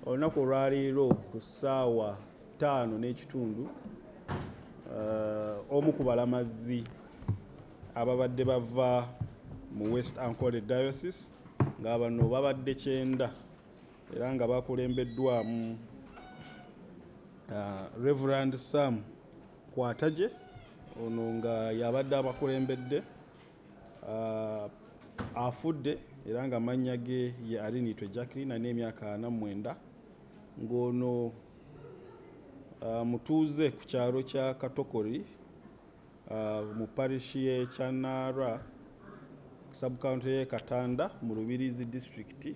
olunaku olwaleero ku ssaawa ttaano n'ekitundu uh, omu ku balamazi ababadde bava mu west ancole diocese nga bano babadde kyenda era nga bakulembeddwamu uh, reverand sam kwataje ono nga yabadde abakulembedde Uh, afudde era nga mannya ge ye Arinitwe Jacqueline alina emyaka ana mwenda ng'ono uh, mutuuze ku kyalo kya Katokori uh, mu parishi y'e Kyanaara subcounty y'e Katanda mu Rubirizi disitulikiti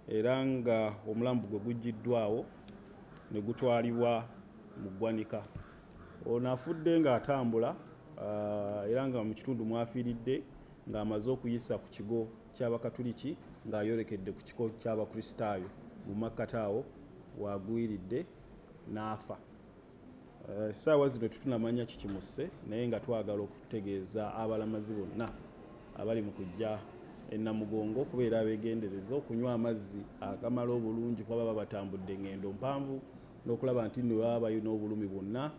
era nga omulambo gwe guggiddwawo ne gutwalibwa mu ggwanika Ono afudde ng'atambula uh, era nga mu kitundu mwafiiridde ng'amaze okuyisa ku kigo ky'abakatuliki ng'ayolekedde ku kiko ky'abakristaayo mu makkati awo wagwiridde n'afa uh, essaawa uh, zino tetunamanya kikimusse naye nga twagala okutegeeza abalamazi bonna abali mu kujja enamugongo kubeera abegendereza okunywa amazzi agamala obulungi kuba baba batambudde ngendo mpanvu n'okulaba nti nno baba balina obulumi bwonna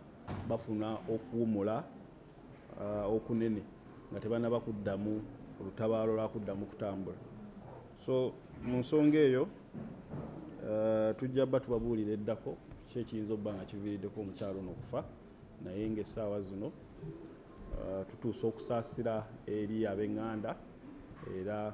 bafuna okuwumula uh, okunene nga tebanaba kuddamu olutabaalo lwa kuddamu kutambula so mu nsonga eyo uh, tujja ba tubabuulira eddako ki ekiyinza okuba nga kiviiriddeko omukyalo ono okufa naye ngaessaawa zino uh, tutuusa okusaasira eri ab'eŋŋanda era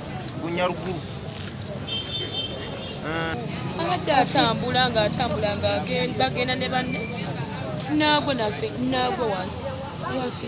abadde atambula ng'atambula ng'agenda bagenda ne banne naagwo nafe naagwo wansi wafe